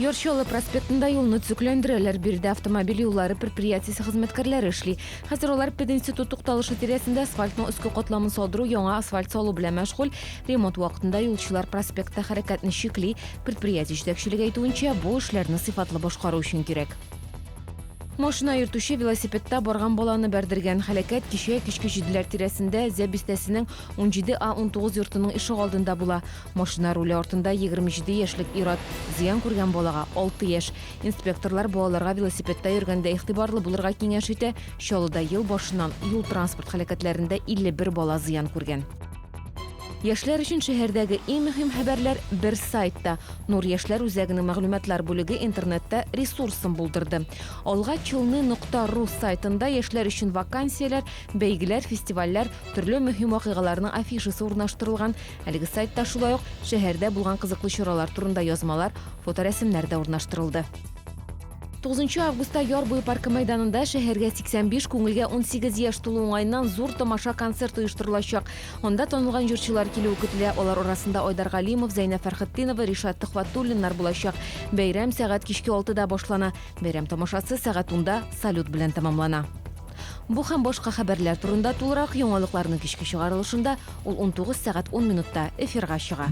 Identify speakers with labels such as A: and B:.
A: Яр Чаллы проспектында юлны төзекләндерәләр. Биредә автомобиль юллары предприятиесе хезмәткәрләре эшли. Хәзер алар пединститут тукталышы тирәсендә асфальтның өске катламын салдыру, яңа асфальт салу белән мәшгуль. Ремонт вакытында юлчылар проспектта хәрәкәтне чикли. Предприятие җитәкчелеге әйтүенчә, бу эшләрне сыйфатлы башкару өчен кирәк. Машина йөртүче велосипедта барган баланы бәрдергән. Хәләкәт кичә кичке җиделәр тирәсендә Зә бистәсенең 17 А 19 йортының ишегалдында була. Машина руле артында 27 яшьлек ир-ат. Зыян күргән балага 6 яшь. Инспекторлар балаларга велосипедта йөргәндә игътибарлы булырга киңәш итә. Чаллыда ел башыннан юл-транспорт һәлакәтләрендә 51 бала зыян күргән. Яшьләр өчен шәһәрдәге иң мөһим хәбәрләр бер сайтта. Нур яшьләр үзәгенең мәгълүматлар бүлеге интернетта ресурсын булдырды. Алга челны нокта ру сайтында яшьләр өчен вакансияләр, бәйгеләр, фестивальләр, төрле мөһим вакыйгаларның афишасы урнаштырылган. Әлеге сайтта шулай ук шәһәрдә булган кызыклы чаралар турында язмалар, фоторәсемнәр дә урнаштырылды. 9 августта Яр буе паркы мәйданында шәһәргә 85, күңелгә 18 яшь тулу уңаеннан зур тамаша концерт оештырылачак. Анда танылган җырчылар килүе көтелә. Алар арасында Айдар Галимов, Зәйнә Фәрхетдинова, Ришат Төхвәтуллиннар булачак. Бәйрәм сәгать кичке 6 да башлана. Бәйрәм тамашасы сәгать 10 да салют белән тәмамлана. Бу һәм башка хәбәрләр турында тулырак яңалыкларның кичке чыгарылышында, ул 19 сәгать 10 минутта, эфирга чыга.